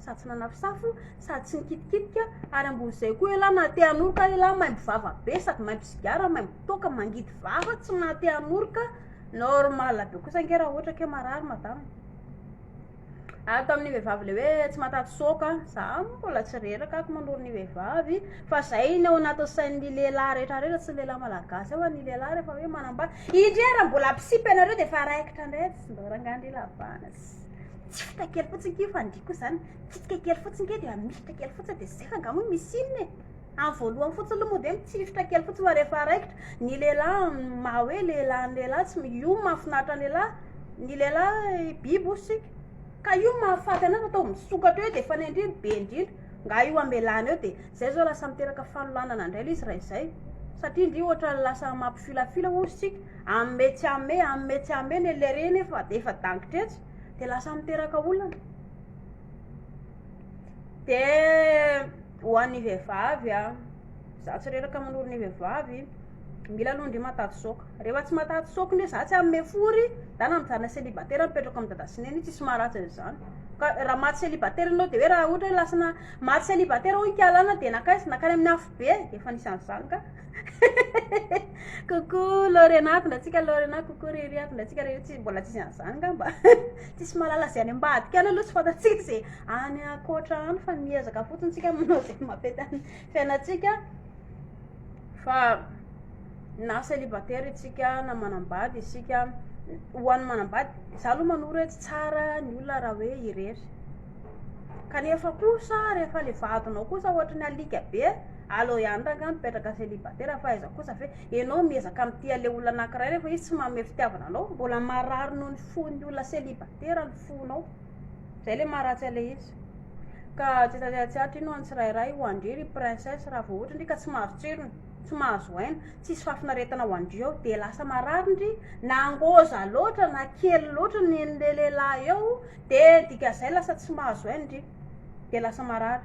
sady tsy nanafosafo, sady tsy nikitikitika, ary ambonin'izay koa ialahy na te hanoroka ialahy maimbo vava be sady maimbo sigara, maimbo toaka, mangidy vava, tsy mahate hanoroka, normal be kosa ange raha ohatra ke marary madama e! ary tamin'ny vehivavy le hoe tsy mahataty soaka, za mbola tsy reraka ako manoro ny vehivavy fa zay ny ao anatin'ny sain'ny lehilahy rehetra rehetra, tsy ny lehilahy malagasy ao fa ny lehilahy rehefa hoe manambady, indrey raha mbola mpisipy ianareo dia efa raikitra indray, tsy mba rangahy ndry lahy banatsy. Tsy fika kely fotsiny ity fandihy koa izany. Tsipika kely fotsiny kely dia mihitra kely fotsiny dia zay fa nga moa misy inona e. Amin'ny voalohany fotsiny aloha moa dia mitsihitra kely fotsiny fa rehefa raikitra ny lehilahy maha hoe lehilahy ny lehilahy tsy io mahafinaritra ny lehilahy ny lehilahy biby hoy isika. Ka io mahafaty anao atao misokatra eo dia fanendry be indrindra. Nga io amelana eo dia zay izao lasa miteraka fanolanana indray ilay izy raha izay. Satria ndry ohatra lasa mampifilafila hoy isika. Amme tsy amme, amme tsy amme le le reny efa efa dangitra etsy de lasa miteraka olana. De ho an'ny vehivavy a, za tsy reraka manoro ny vehivavy, mila aloha ndry mataty soc, rehefa tsy mataty soc ndray za tsy amme fory, za na mijanona célibataire mipetrako am dada sy neny tsisy maharatsy an'zany, ka raha maty célibataire enao de hoe raha ohatra hoe lasana maty célibataire hono kialana de nankaiza, nankany amin'ny afobe, efa nisy an'zany ka. Coucou Lorena, avy antsika Lorena, coucou Riri, avy antsika Riri, tsy mbola tsisy an'izany angamba. Tsisy mahalala izay any ambadika any aloha tsy fantatsika izay any ankoatra any fa miezaka fotsiny tsika manao izay mampety any fiainantsika. Fa na célibataire isika na manambady isika, ho an'ny manambady, za aloha manoro hoe tsy tsara ny olona raha hoe irery. Kanefa kosa rehefa le vadinao kosa ohatry ny alika be. Aleo ihany rangah mipetraka célibataire fa aiza kosa ve enao miezaka mitia le olona anakiray nefa izy tsy manome fitiavana anao mbola marary noho ny fon'ny olona célibataire ny fonao zay le maha ratsy an'le izy ka tsy tatiatsiatra iny ho an'ny tsirairay ho andre ry princesse raha vao ohatra ndry ka tsy mahazo tsirony tsy mahazo aina tsisy fahafinaretana ho andry ao de lasa marary ndry na ngôza loatra na kely loatra ny an'le lehilahy eo de dikazay lasa tsy mahazo aina ndry de lasa marary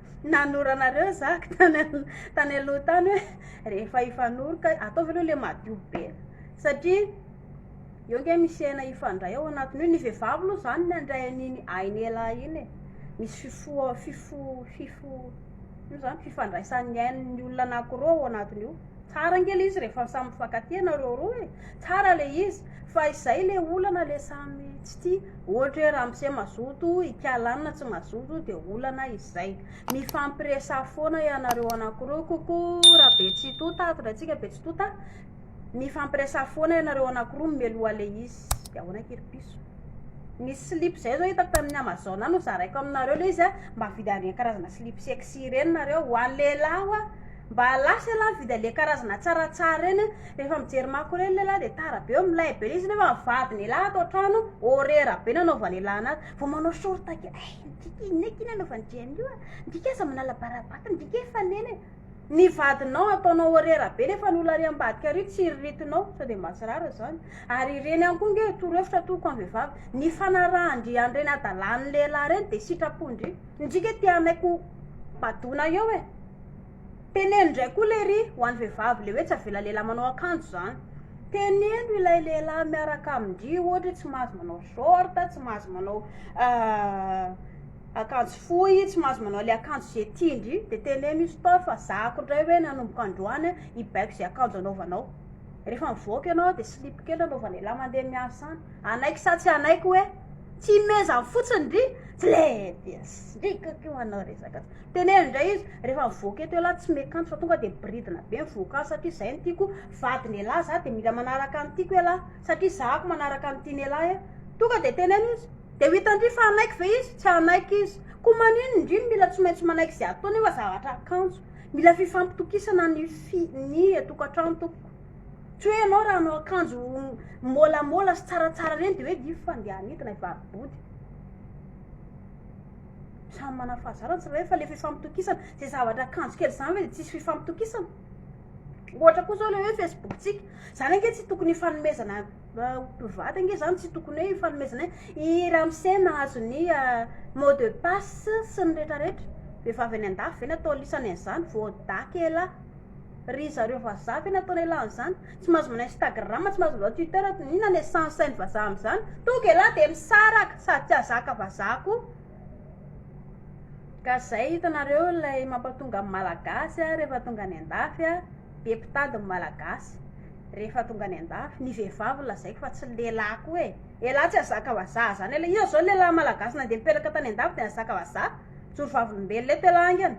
Nanoro anareo zah tany tany aloha tany hoe rehefa hifanoroka ataovy aloha le madio be satria eo nge misy aina hifandray ao anatin'io ny vehivavy aloha zany ny handray an'iny ain'ialahy iny e misy fifoha- fifo- fifo- ino zany fifandraisan'ny ain'ny olona anakiroa ao anatin'io tsara nge le izy rehefa samy mifankatia nareo roa e tsara le izy fa izay le olana le samy tsy tia Ohatra hoe ramose mazoto, i Kalana tsy mazoto dia olana izay. Mifampiresaha foana ianareo anankiroa, coucou Rabetsitota, ato indray tsika Betsitota. Mifampiresaha foana ianareo anankiroa mimeloha le izy. Dia ahoana kiry piso? Nisy slip zay zao hitako tamin'ny Amazon any ho zaraiko aminareo le izy a, mba avidy an'ireny karazana slip sexy ireny nareo, ho an'ny lehilahy ho'a. Mba lasa ialahy mividy anle karazana tsara tsara ireny a, rehefa mijery mako ireny lehilahy dia tara be eo milay be le izy nefa ny vadiny elah ato an-trano horera be nanaovany elah anazy vao manao short kely eh midika inona eky iny anaovany Jenny io a midika aza manala barabata midika eh fanena e ny vadinao ataonao horera be nefa ny olona ary ambadika ary tsy iriritinao sao dia mba tsy rariny izany ary ireny ihany koa nge toro hevitra atoloko amin'ny vehivavy ny fanarahan-dry an'ireny hadalan'ny lehilahy ireny dia sitrapo-ndry midika eh te hanaiky ho badoina eo e Teneno ndray koa lery ho an'ny vehivavy le hoe tsy avela lehilahy manao akanjo zany. Teneno ilay lehilahy miaraka amin-dry ohatra hoe tsy mahazo manao short, tsy mahazo manao akanjo fohy, tsy mahazo manao le akanjo ze tian-dry de teneno io stop fa zah ko ndray hoe nanomboka androany hibaiko ze akanjo anaovanao. Rehefa mivoaka ianao de slip kely anaovan'ilahy mandeha miasa any. Hanaiky sa tsy hanaiky hoe tsy himezany fotsiny ndry tsy le dia srikaka io manao resaka. Teneno indray izy rehefa mivoaka eto elah tsy me kanto fa tonga dia biridina be mivoaka azy satria izay no tiako vadin elah zah dia mila manaraka ny tiako elah satria zah ako manaraka ny tian elah eh tonga dia teneno izy dia ho hitandry fa hanaiky ve izy tsy hanaiky izy ko manin indry no mila tsy maintsy manaiky izay ataony fa zavatra kanjo mila fifampitokisana ny fi ny etokantrano tompoko tsy hoe ianao raha hanao akanjo molamola sy tsaratsara ireny dia hoe diff fa ndeha hanidina i vavy body Samy manana fahazarana ny tsirairay fa le fifampitokisana zay zavatra akanjo kely zany ve de tsisy fifampitokisana? Ohatra koa zao le hoe Facebook-tsika, zany ange tsy tokony hifanomezana mpivady ange zany tsy tokony hoe ifanomezana hoe i ramose nahazo ny mot de passe sy ny retraretra, vehivavy any an-dafy ve no atao lisany an'zany? Voadaky elah! Ry zareo vazaha ve no ataon'elah an'zany? Tsy mahazo manao Instagram, tsy mahazo manao Twitter ato, inona le sens ain'ny vazaha am'zany? Tonga elah de misaraka sady tsy hazaka vazaha koa. Ka zay hitanareo ilay mampatonga ny malagasy a rehefa tonga any an-dafy a, be mpitady ny malagasy, rehefa tonga any an-dafy, ny vehivavy no lazaiko fa tsy ny lehilahy koa e, elah tsy hazaka vazaha zany elah, iza zao ny lehilahy malagasy nandeha nipetraka tany an-dafy de nahazaka vazaha? Mijoro vavolombelona eto elah angany.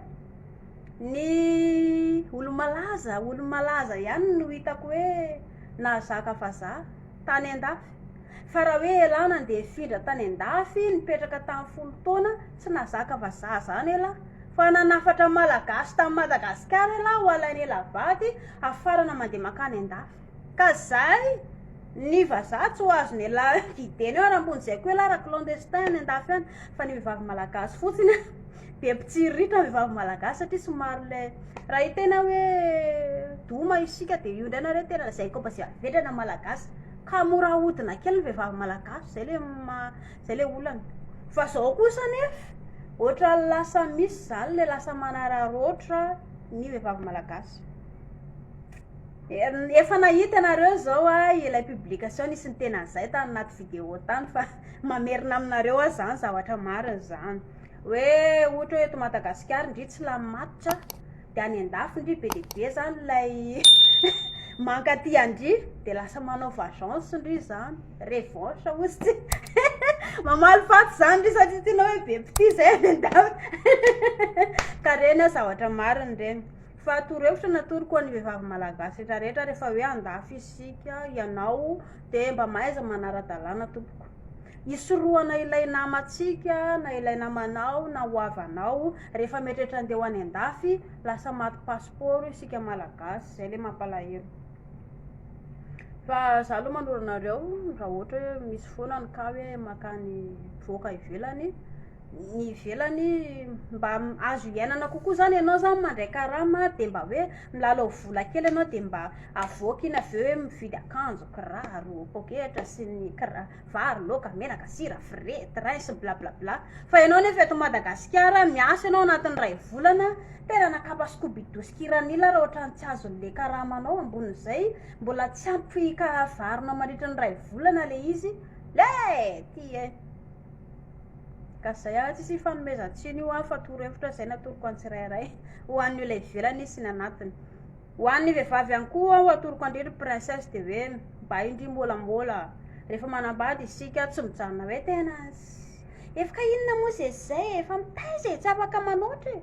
Ny olo-malaza, olo-malaza ihany no hitako hoe nahazaka vazaha tany an-dafy. Fa raha hoe elah nandeha hifindra tany an-dafy, nipetraka tany folo taona, tsy nahazaka vazaha izany elah. Fa nanafatra Malagasy tany Madagasikara elah ho alain'elah vady, hafarana mandeha mankany an-dafy. Ka izay, ny vazaha tsy ho azon'elah didena eo, ary ambony izay koa elah raha clandestin any an-dafy any, fa ny vehivavy Malagasy fotsiny. be mpitsiriritra vehivavy malagasy satria somary le raha i tena hoe doma isika de io indray nareo tena zay koa mba zay avedrana malagasy ka mora ahodina kely ny vehivavy malagasy zay le ma- zay le olana fa zao kosa nefa ohatra lasa misy zany le lasa manararaotra ny vehivavy malagasy er- efa nahita ianareo zao ah ilay publication nisy niteny an'izay tany anaty video tany fa mamerina aminareo ah zany zavatra marina zany Hoe ohatra hoe eto Madagasikara ndry tsy lany matotra dia any an-dafy ndry be dia be zany ilay mankaty an-dry dia lasa manao vagence ndry zany, revanche hozy tsy mamaly faty zany ndry satria tsy hoe be mpitia zay any an-dafy ka reny zavatra marina ireny fa torohevitra ny atoroko ho an'ny vehivavy malagasy rehetra rehetra rehefa hoe an-dafy isika ianao dia mba mahaiza manara-dalàna tompoko. Hisorohana ilay namantsika na ilay namanao na ho havanao rehefa mieritreritra andeha ho any andafy, lasa maty pasipaoro isika malagasy, zay le mampalahelo. Fa za aloha manoro anareo raha ohatra hoe misy foana ny cas hoe makany mivoaka ivelany, ny ivelany mba azo hiainana kokoa zany ianao zany mandray karama dia mba hoe milalao vola kely ianao dia mba avoaka iny avy eo hoe mividy akanjo kiraro poketra sy ny kira- vary laoka menaka sira frais train sy bla bla bla fa ianao nefa eto madagasikara miasa ianao anatin'ny iray volana tena na kapa skobido sy kiranila ary ohatrany tsy azon'le karamanao ambonin'izay mbola tsy ampy karavanao mandritra ny iray volana le izy le ty e Ka zay ary tsisy ifanomezan-tsiny io ary fa torohevitra zay natoroko an'ny tsirairay ho an'ny olona ivelany sy ny anatiny. Ho an'ny vehivavy ihany koa aho atoroko an-dry ry princesse dia hoe mba indry môlamôla rehefa manambady isika tsy mijanona hoe tena efa ka inona moa zay sy zay e, fa mitaiza e, tsy afaka manoatra e.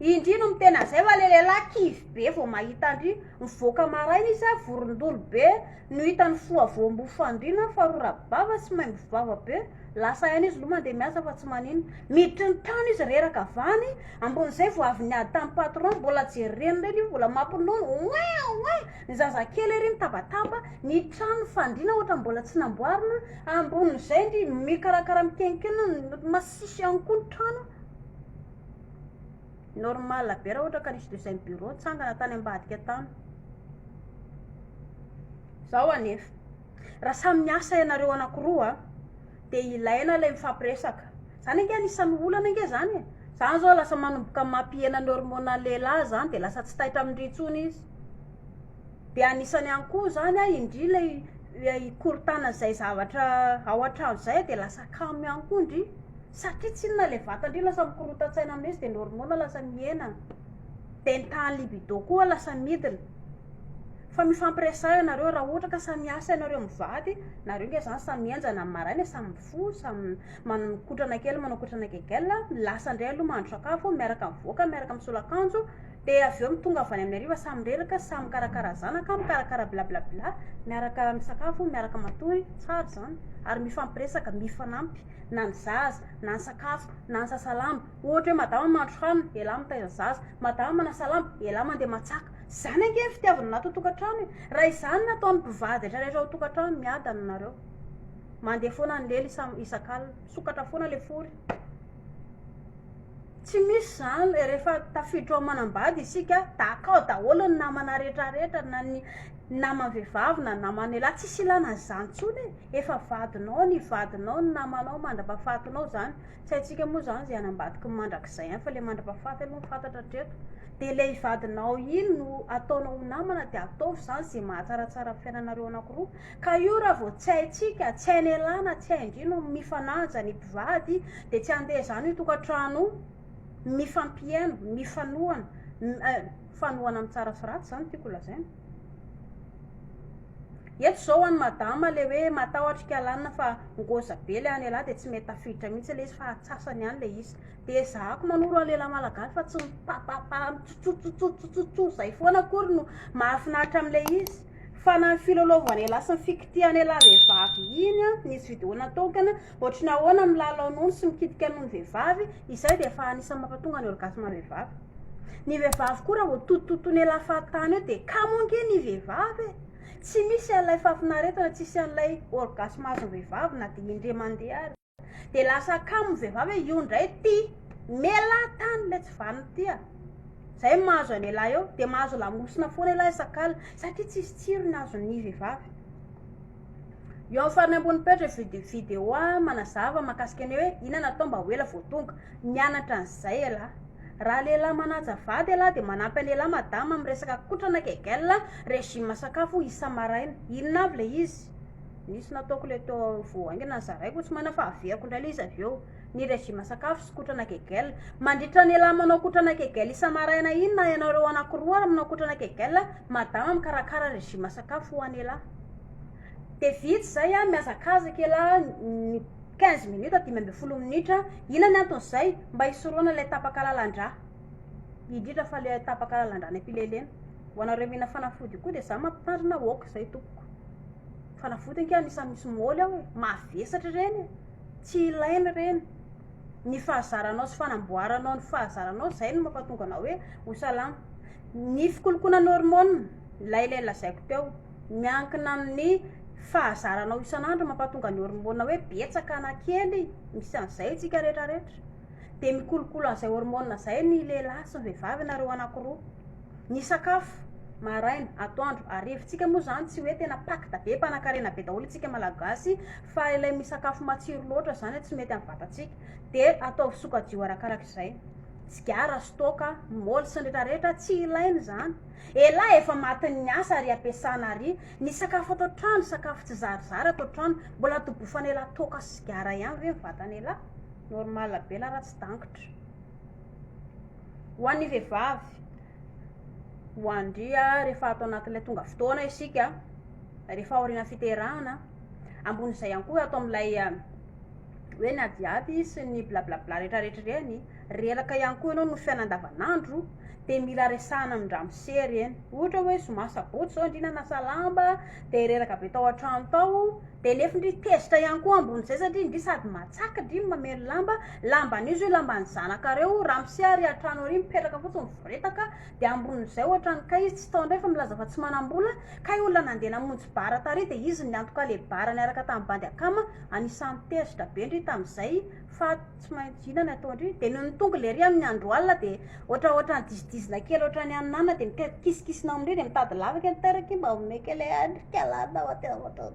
Indry no mitena zay fa le lehilahy kivy be vao mahita an-dry mivoaka maraina izy a, vorondolo be, No hitany foha voamboho fandriana fa rora bava sy maimbo vava be lasa haino izy lo mandeha miasa fa tsy manino miditry ny tany izy reraka avany ambon'izay vao avy niady tamin'ny patron mbola jereny ireny io mbola mampinono oin oin ny zazakely ery mitabataba ny trano fandriana ohatra mbola tsy namboarina ambon'izay ndry mikarakara mikenkena ny masisy ihany koa ny trano Normal be raha ohatra ka nisy deuxième bureau nitsangana tany ambadika tany. Zao anefa, raha samy miasa ianareo anakiroa a, dia ilaina ilay mifampiresaka. Zany ange anisan'ny olana ange zany e. Zany zao lasa manomboka mampihena ny hormonan'ny lehilahy zany dia lasa tsy taitra amin-dry intsony izy. De anisany ihany koa zany a indry ilay hikorontana izay zavatra ao an-trano izay de lasa kamo ihany koa ndry satria tsy inona le vatan-dry lasa mikorontan-tsaina amin' izy de ny hormona lasa mihena de ny tahan'ny libido koa lasa midina fa mifampiresaha ianareo raha ohatra ka samy miasa ianareo mivady nareo nge zany samy mihenjana ny maraina e samy mifoha samy manao mikotrana kely manao mikotrana gegel lasa ndray aloha mahandro sakafo miaraka mivoaka miaraka misolo akanjo Dia avy eo mitongava avy any amin'ny hariva samy mireraka, samy mikarakara zanaka, mikarakara blablabla, miaraka misakafo, miaraka matory, tsara izany, ary mifampiresaka, mifanampy, na ny zaza, na ny sakafo, na ny sasa lamba, ohatra hoe madama mahandro hanina, ialahy mitaiza zaza, madama manasa lamba, ialahy mandeha matsaka, izany ange ny fitiavana anaty tokantrano e! raha izany no ataon'ny mpivady rehetra rehetra ao tokantrano, miadana nareo, mandeha foana ny lela isam-, isak'alina, misokatra foana le fory. Tsy misy zany eh, rehefa tafiditra ao amanambady isika, tahaka ao daholo ny namana rehetra rehetra, na ny nama vehivavy na nama lehilahy, tsisy ilana an'izany tsony eh, efa vadinao ny vadinao, ny namanao mandrapahafatinao zany, tsy haintsika moa zany zay any ambadiky ny mandrakizay any, fa le mandrapahafaty aloha no fantatra hatreto, de le vadinao iny no ataonao ho namana de ataovy zany ze mahatsaratsara ny fiainanareo anakiroa. Ka io raha vao tsy haintsika, tsy hain' elah na tsy hain-dry no mifanaja ny mpivady dia tsy handeha izany io tokantrano io, mifampihaino, mifanohana, mifanohana amin'ny tsara sy ratsy izany no tiako lazaina. Eto izao ho an'i madama ilay hoe matahotra i kalanina fa ngôza be ilay any elah dia tsy mety tafiditra mihitsy ilay izy fa atsasany any ilay izy. Dia ezahako manoro an'i lehilahy malagasy fa tsy mipapapa mitsotsotsotsotsotso izay foana akory no mahafinaritra amin'ilay izy. Fa na ny filalaovana elah sy ny fikitihana elah vehivavy iny an, ny judo natokana, ohatry ny ahoana ny milalao nono sy mikitika nono vehivavy, izay dia efa anisan'ny mampatonga ny orgasme vehivavy. Ny vehivavy koa raha vao totototon'ny elah fahatany eo dia kamo ange ny vehivavy e! Tsy misy an'ilay fahafinaretana, tsy hisy an'ilay orgasme azon'ny vehivavy na dia indray mandeha ary. De lasa kamo vehivavy e io ndray ty melaha tany le tsy vaniny ty a! zay mahazo an elah eo de mahazo lamosina foana elah isak'alina satria tsisy tsirony azon'ny vehivavy eo am farany ambony petra vid- video a manazava makasika ny hoe ina natao mba ho ela vao tonga mianatra an'izay elah raha lehilahy manaja vady elah de manampy an elah madama am resaka kotrana kegel regime sakafo isa maraina inona avy le izy Nisy nataoko ilay teo vao haingana zaraiko tsy maina fa avehako indray ilay izy avy eo. Ny régime sakafo sy kotrana kegel. Mandritra ny elah manao kotrana kegel isa-maraina iny na ianareo anankiroa ary manao kotrana kegel madama mikarakara ny régime sakafo ho an'ny elah. Dia vitsy izay an, mihazakazaka elah ny quinze minutes dimy ambin'ny folo minitra. Inona ny anton'izay? Mba hisorohana ilay tapaka lalan-drà. Indrindra fa ilay tapaka lalan-drà any am-pilelena. Ho anareo mihinana fanafody koa dia izaho mampitandrina aoka izay tompoko. Fanavotana kay anisany misy môly ao e, mavesatra ireny e, tsy ilaina ireny, ny fahazaranao sy fanamboaranao ny fahazaranao izay no mampatonga anao hoe ho salama, ny fikolokoloana ny hormone ilay ilay lazaiko teo miankina amin'ny fahazaranao isan'andro mampatonga ny hormone hoe betsaka na kely, misy an'izay isika retraretra, dia mikolokolo an'izay hormone izay ny lehilahy sy ny vehivavy ianareo anakiroa. Ny sakafo, maraina, atoandro, harivantsika moa izany tsy hoe tena pacte be, mpanankarena be daholo isika Malagasy fa ilay misakafo matsiro loatra izany tsy mety amin'ny vatantsika dia ataovy sokajiho arakaraka izay. Tsigara, stock, moly sy ny retraretra tsy ilaina izany. Elah efa matin'ny asa ary ampiasana ary ny sakafo ato an-trano, sakafo tsy zarizary ato an-trano, mbola tobofana elah toaka sy sigara ihany ve ny vatan'elah? Normal be la raha tsy dangitra. Ho an'ny vehivavy, ho andria rehefa ato anatin'ilay tonga fotoana isika, rehefa aorian'ny fiterahana, ambonin'izay ihany koa ato amin'ilay hoe ny adiady sy ny blablabla rehetrarehetra ireny, reraka ihany koa ianao noho ny fiainana andavanandro, dia mila resahana amin-dramose ireny. Ohatra hoe zoma sabotsy izao indrindra hanasa lamba, dia reraka be tao an-trano tao. Dia nefy ndry tezitra ihany koa ambonin'izay satria ndry sady matsaka ndry ny mamely lamba, lamban'io zio lamban'ny zanakareo, ramose ary atrano ary mipetraka fotsiny mivoretaka, dia ambonin'izay ohatran'ny kay izy tsy tao ndray fa milaza fa tsy manambola, kay olona nandeha namonjy bar tary dia izy niantoka le bar niaraka tamin'ny bandy akama, anisan'ny tezitra be ndry tamin'izay fa tsy maintsy vina ny ataondry dia noho ny tongony lery amin'ny andro alina dia ohatra ohatra ny disidizina kely ohatra ny anana dia mika kisikisina amindry dia mitady lavaka ny taraky mba omeka ilay andrika lana ao aty ohatra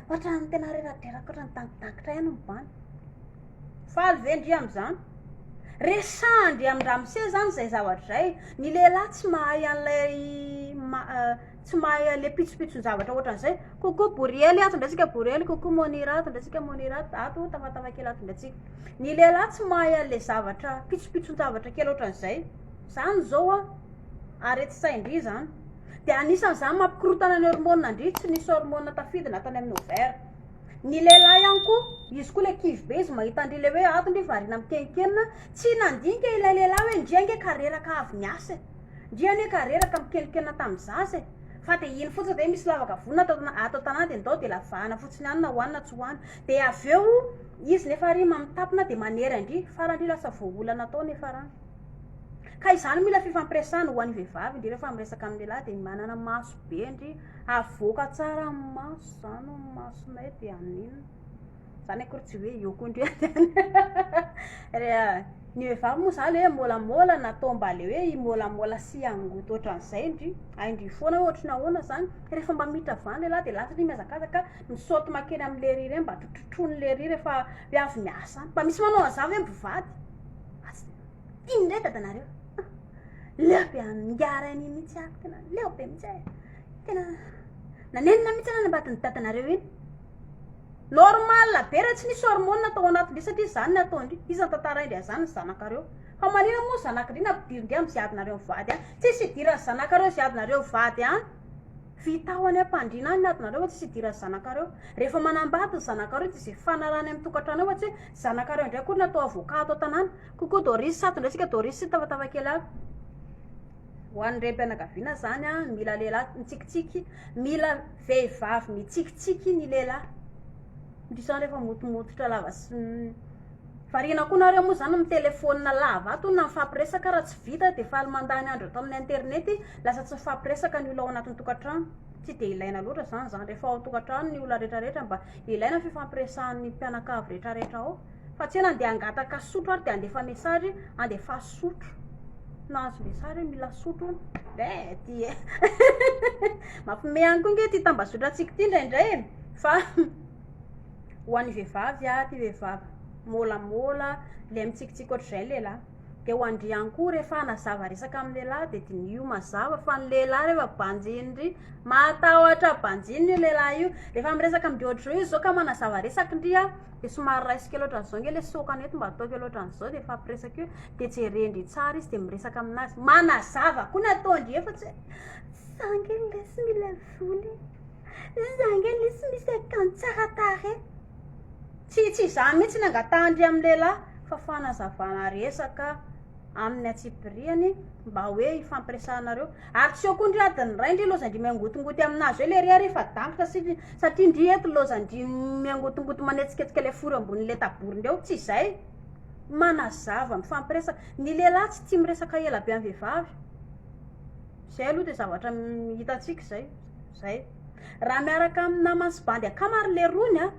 ohatra ny tena reradreraka ohatra ny tangitangitra ihany mibany faly ve ndry amin'izany resahandry amin-dramose zany izay zavatra izay ny lehilahy tsy mahay an'ilay Tsy mahay aleha pitsopitson-javatra ohatran'izay. Coucou Boriely ato indray tsika Boriely, coucou Monira ato indray tsika Monira, ato tafatafakely kely ato indray tsika. Ny lehilahy tsy mahay aleha zavatra pitsopitson-javatra kely ohatran'izay. Zany zao an, aretin-tsain-dry zany. Dia anisan'izany mampikorontana ny hormones ndry tsy misy hormones tafidina ato any amin'ny ovaire. Ny lehilahy ihany koa, izy koa ilay kivy be izy mahita an-dry ilay hoe ato ndry variana mitenitenina, tsy nandinika ilay lehilahy hoe ndry ange ka reraka avy niasa e. Ndry anie ka reraka mikelikena tam zaza e! Fa de iny fotsiny ve misy lavaka vonona ato ato tanàna de ndao de lavahana fotsiny any na hoany na tsy hoany de avy eo izy nefa ary mamitapona de manery andry fara ndry lasa voaholana tao nefa rany ka izany mila fifampiresahana ho any vehivavy ndry refa miresaka am lehilahy de manana maso be ndry havoaka tsara am maso zany masonay de amin Zany akory tsy hoe eo koa ndry an. Ny vehivavy moa zany hoe môlamôla na atao mba le hoe himôlamôla sy hangoty ohatran'izay ndry. Hay ndry foana hoe ohatry ny ahoana zany. Rehefa mba miditra avy any le lahy de lasa ndry mihazakazaka mi-saute mankeny amin'ny le riz ireny mba trotrotroiny le riz rehefa hoe avy miasa any. Mba misy manao an'zany ve mpivady? Asa ino ndray dada nareo? Leo be haningara an'iny mihitsy aho, tena leo be mihitsy aho e. Tena nanenina mihitsy aho nanabaty ny dadanareo iny. Normal be raha tsy nisy hormone tao anatindry satria zany ny ataondry, iza tantaraindry azany ny zanakareo? Fa manina moa zanakdry nampidirindry am ziadinareo mivady an? Tsisy hidiran zanakareo ziadinareo vady an! Vitao any ampandriana any ny adinareo fa tsisy hidiran zanakareo. Refa manambady ny zanakareo de ze fanarahany am tokatrano ohatsy hoe zanakareo ndray akory ny atao avocat ato atanana. Coucou Doris sato ndray tsika Doris sy tafatava kely aby. Ho any rem pianakaviana zany an mila lehilahy mitsikitsiky mila. Vehivavy mitsikitsiky ny lehilahy. Ndry zany refa motomototra lava sy Variana koa nareo moa zany mitelefona lava ato na mifampiresaka raha tsy vita de faly mandany andro ato amin'ny internet lasa tsy mifampiresaka ny olona ao anatin'ny tokantrano tsy de ilaina loatra zany zany refa ao tokantrano ny olona retraretra mba ilaina ny fifampiresahan'ny mpianakavy retraretra ao Fa tsy ela andeha hangataka sotro ary dia handefa message handefaso sotro. Nahazo message hoe mila sotro hono. Eh ty eh. Mampime ihany koa nge ty tambazotrantsika ty indraindray e. Fa ho an'ny vehivavy ah ty vehivavy môlamôla le mitsikitsiky ohatr'izay ny lehilahy. Dia ho an-dry ihany koa rehefa hanazava resaka amin'ny lehilahy dia diniho mazava fa ny lehilahy rehefa banjin-dry mahatahotra banjinina io lehilahy io. Rehefa miresaka amin-dry ohatr'izao izy izao ka manazava resaka ndry a, Dia somary raisiko kely ohatran'izao ange ilay sokany eto mba atao kely ohatran'izao dia hifampiresaka eo dia jeren-dry tsara izy dia miresaka aminazy manazava koa ny ataon-dry efa tsy hoe za ange lesy mila vola e za ange lesy misy akanjo tsara tarehy tsy tsy izany mihitsy ny angatahan-dry amin'ny lehilahy fa fanazavana resaka amin'ny antsipiriany mba hoe hifampiresahanareo Ary tsy eo koa ndry adin'ny ray ndry lozan-dry miangotongoty aminazy eo lery ary efa dangotra sy satria ndry eto lozan-dry miangotongoty manetsiketsika le fory ambony le taboriny eo, tsy izay? manazava mifampiresaka, ny lehilahy tsy tia miresaka ela be am vehivavy, zay aloha de zavatra hitantsika zay, zay. Raha miaraka amin'ny namany sy bandy akamary lerony a!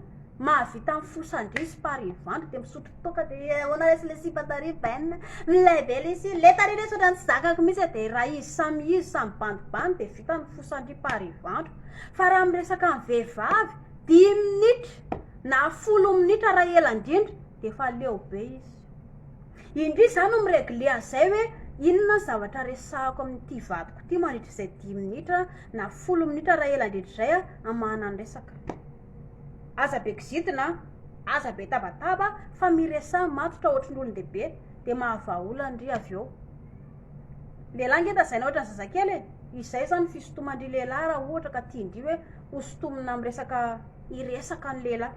Mahavita amin'ny fo sangy sy par evandro dia misotro toaka dia eh, ahoana lesy le sipa tary Ben? Milay be lesy, le tary lesy ohatran'ny tsy zakako mihitsy eh, dia raha izy samy izy, samy bandibandy dia vita ny fo sangy par evandro. Fa raha miresaka amin'ny vehivavy, dimy minitra na folo minitra raha ela indrindra dia efa leo be izy. Indrisy za no mi-regler an'izay hoe inona ny zavatra resahako amin'ity vadiko ity mandritra izay dimy minitra na folo minitra raha ela indrindra izay hamahana ny resaka. Aza be kizitina an! Aza be tabataba fa miresaha matotra ohatry ny olon-dehibe dia mahavahaolana ndry avy eo. Lehilahy nge tazaina ohatry ny zazakely e! Izay izany ny fisintoman-dry lehilahy raha ohatra ka tian-dry hoe ho sintomina amin'ny resaka hiresaka ny lehilahy.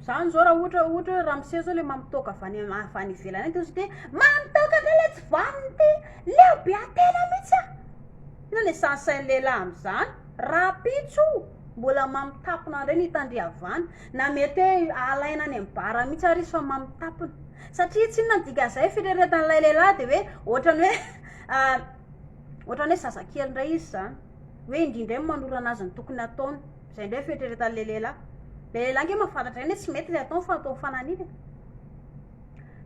Zany zao raha ohatra ohatra hoe ramose zao le mamitoaka avy any avy any ivelany any de ozy de mamitoaka ndray le tsy vaniny ty leo be atena mitsy a ino le sahasain'ny lehilahy amizany rapitso mbola mamitapona ndray ny tandriavana na mety hoe alaina any am bara mitsy ary izy fa mamitapona satria tsy inona ny dikan'izay fireretan'ilay lehilahy de hoe ohatrany hoe ohatrany hoe zazakely ndray izy zany hoe indrindray manorana azy ny tokony ataony Zay indray fieritreretan le lehilahy. Le lehilahy nge mahafantatra eny e, tsy mety le ataony fa ataovy fananina e.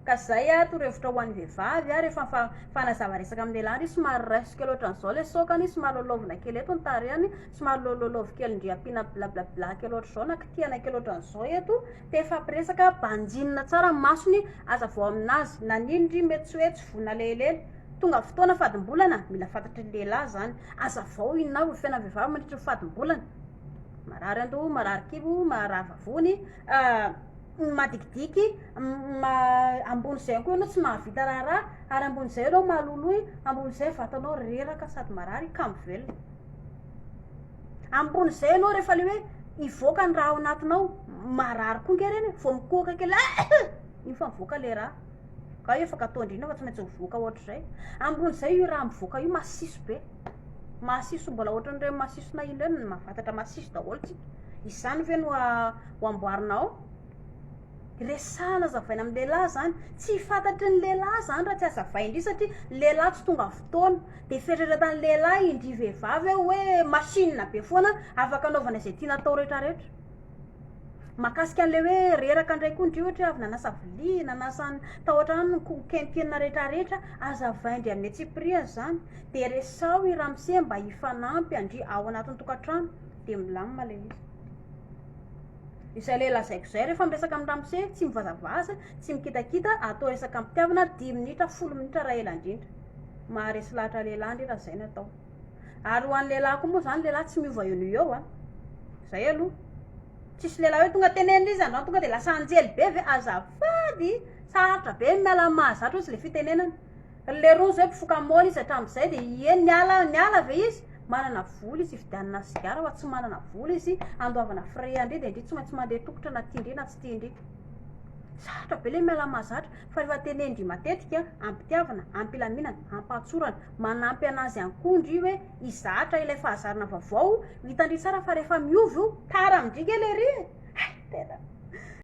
Ka zay a, toro hevitra ho an'ny vehivavy a, rehefa mifa- mifanazava resaka amin'ny lehilahy ndry somary raiso kely ohatran zao le sokany, somary lalaovina kely eto ny tarehany, somary lalaovy kely ndry ampiana blablabla kely ohatran zao na kitihana kely ohatran zao eto, Tefapresaka banjinina tsara ny masony aza vao aminazy nanino ndry mety tsy hoe tsy voa nalehilely tonga fotoana fadimbolana mila fantatry ny lehilahy zany aza vao inona avy ny fiainan'ny vehivavy mandritry ny fadimbolana marary andoha marary kibo marary vavony ny madikidiky ambony zay koa ianao tsy mahavita raharaha ary ambony zay ianao maloloy ambony zay vatanao reraka sady marary kamo velona Ampon'izay ianao rehefa le hoe hivoaka ny raha ao anatinao, marary koa nge reny e, vao mikohoka kely iny fa mivoaka le raha. Ka io efa gâteau indrindra fa tsy maintsy mivoaka ohatr'izay. Ampon'izay io raha mivoaka io masiso be, masiso mbola ohatran'ireny masisonay iny ireny, mahafatatra masiso daholo tsika. Izany ve no ho amboarinao? Resahana azavaina amin'ny lehilahy izany. Tsy fantatry ny lehilahy izany raha tsy azavain-dry satria ny lehilahy tsy tonga fotoana. Dia fieritreretan'ny lehilahy indry vehivavy ao hoe machine be foana afaka anaovana izay tiana atao rehetra rehetra. Mahakasika an'ilay hoe reraka indray koa indry ohatra hoe avy nanasa vilia, nanasa ny tao an-trano ny ko- kentrina rehetra rehetra, azavain-dry amin'ny antsipiriany izany. Dia resaho i ramose mba hifanampy an-dry ao anatin'ny tokantrano. Dia milamina ilay izy. Izay ilay lazaiko izay, rehefa miresaka amin'ny ramose, tsy mivazavaza, tsy mikitakita, atao resaka am-pitiavana, dimy minitra, folo minitra raha ela indrindra. Maharesy lahatra lehilahy ndry raha izay no atao. Ary ho an'ny lehilahy koa moa izany, ny lehilahy tsy miova eo no eo an. Izay aloha. Tsisy lehilahy hoe tonga tenenina izy androany tonga dia lasa anjely be ve? Azafady, sarotra be ny miala amin'ny mahazatra hozy ilay fitenenana. Leroa zao mpifoka moly izy hatramzay de ie niala niala ve izy? manana vola izy hividianana sigara fa tsy manana vola izy handoavana frais an-dry de ndry tsy maintsy mandeha tongotra na tian-dry na tsy tian-dry sarotra be le miala mahazatra fa efa tenen-dry matetika am-pitiavana am-pilaminana am-pahatsorana manampy anazy ihany koa ndry hoe hizatra ilay fahazarana vaovao hitan-dry tsara fa rehefa miova io tara amin-dry nge lery e hay tena